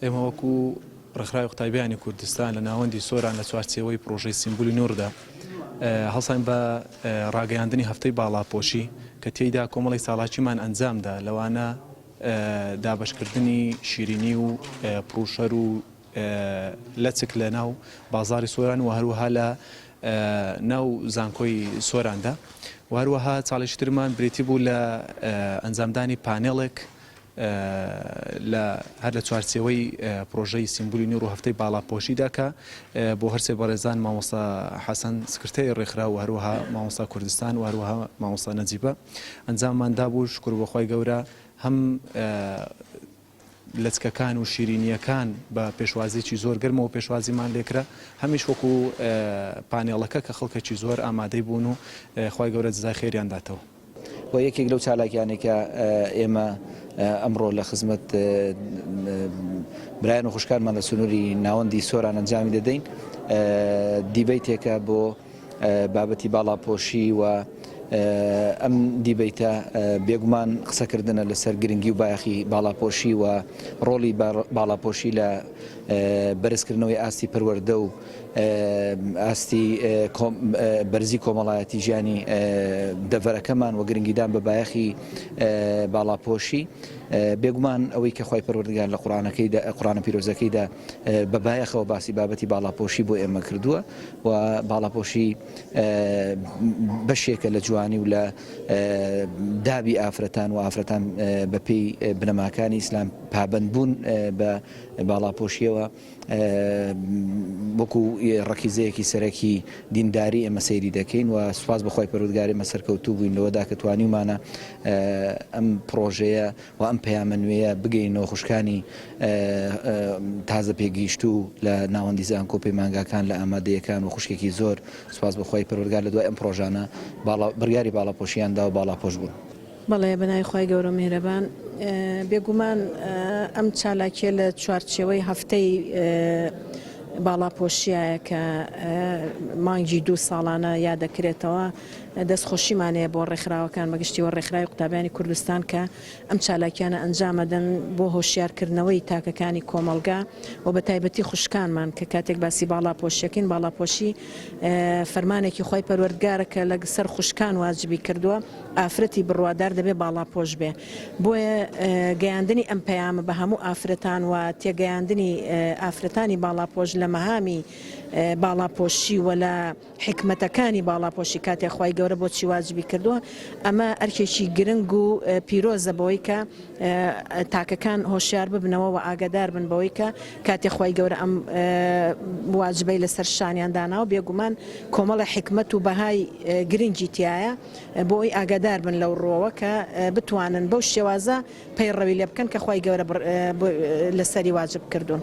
ئێمە وەکو ڕێکخراوی قوتابی بیانی کوردستان لە ناوەندی سۆران لە چوارچێوەی پرۆژەی سیمبولی نووردا هەڵسان بە ڕاگەیاندنی هەفتەی باڵاپۆشی کە تێیدا کۆمەڵی ساڵاچیمان ئەنجامدا لەوانە دابشکردنی شیرینی و پروشەر و لەچک لە ناو بازاری سۆران و هەروەها لە ناو زانکۆی سۆراندا و هەروەها چاڵێکی ترمان بریتی بوو لە ئەنجامدانی پانێڵێک لە هەر لە چوارچێوەی پرۆژەی سیمبولی نوور و هەفتەی باڵاپۆشیدا کە بۆ هەرسێ بەڕێزان مامۆستا حەسەن سکرتێری ڕێکخراو و هەروەها مامۆستا کوردستان و هەروەها مامۆستا نەجیبە ئەنجاممان دابوو شکور بۆ خوای گەورە هەم لەچکەکان و شیرینییەکان بە پێشوازیی زۆر گەرمەوە پێشوازیمان لێکرا هەمیش وەکو پانێڵەکە کە خەڵکەکی زۆر ئامادەی بوون و خوای گەورە جزای خێریان داتەوە. و یەکێک لەو چالاکیانەی کە ئێمە ئەمڕۆ لە خزمەت برایان و خوشکانمان لە سنووری ناوەندی سۆران ئەنجامی دەدەین دیبەیتێکە بۆ بابەتی باڵاپۆشی و ئەم دیبەیتە بێگومان قسەکردنە لەسەر گرنگی و بایەخی باڵاپۆشی و ڕۆڵی باڵاپۆشی لە بەرزکردنەوەی ئاستی پەروەردە و ئاستی بەرزی کۆمەڵایەتی ژیانی دەڤەرەکەمان و گرنگیدان بە بایەخی باڵاپۆشی بێگومان ئەوەی کە خی پەروەردگار لە قڕانەکەی قڕانە پیرۆزەکەیدا بە بایەخەوە باسی بابەتی باڵاپۆشی بۆ ئێمە کردووە و باڵاپۆشی بەشێکە لە جوانی و لە دابی ئافرەتان و ئافرەتان بەپی بنەماکانی ئیسلام پابند بوون بە باڵاپۆشیەوە وەکو ڕەکیزەیەکی سەرەکی دینداری ئێمە سەیری دەکەین و سوپاس بەخوای پەروەردگار ئێمە سەرکەوتوو بووین لەوەدا کە توانیومانە ئەم پڕۆژەیە و ئەم پەیامە نوێیە بگەینەوە خوشکانی تازە پێگەیشتوو لە ناوەندی زانکۆ و پەیمانگاکان لە ئامادەیەکان و خوشکێکی زۆر سوپاس بەخوای پەروەردگار لە دوای ئەم پڕۆژانە باڵا بڕیاری باڵاپۆشیان دا و باڵاپۆش بوون. بەڵێ بەناوی خوای گەورەو میهرەبان بێگومان ئەم چالاکیە لە چوارچێوەی هەفتەی باڵاپۆشیایە کە مانگی دوو ساڵانە یادەکرێتەوە دەست خۆشیمانەیە بۆ ڕێکخراوەکان بەگشتیەوە ڕێکخراوی قوتابیانی کوردستان کە ئەم چالاکیانە ئەنجامەدەن بۆ هۆشیارکردنەوەی تاکەکانی کۆمەڵگا و بە تایبەتی خوشکانمان کە کاتێک باسی باڵا پۆشەکەین باڵاپۆشی فەرمانێکی خی پەروەردگارە کە لە سەر خوشکان واجبی کردووە ئافرەتی بڕوادار دەبێ باڵاپۆش بێ، بۆیە گەیاندنی ئەم پەیامە بە هەموو ئافرەتان و تێگەیاندنی ئافرەتانی باڵاپۆش لە مەهامی باڵاپۆشی و لە حیکمەتەکانی باڵاپۆشی کاتێ خوای گەورە بۆچی واجبی کردووە ئەمە ئەرکێکی گرنگ و پیرۆزە بەوەی کە تاکەکان هۆشیار ببنەوە و ئاگەدار بن بەوەی کە کاتێ خوای گەورە ئەم واجبەی لەسەر شانیان داناوە بێگومان کۆمەڵێ حیکمەت و بەهای گرنگی تیایە. بۆی ئاگادار بن لەو ڕوەوە کە بتوانن بەو شێوازە پەیڕەوی لێ بکەن کە خوای گەورە لەسەری واجب کردوون.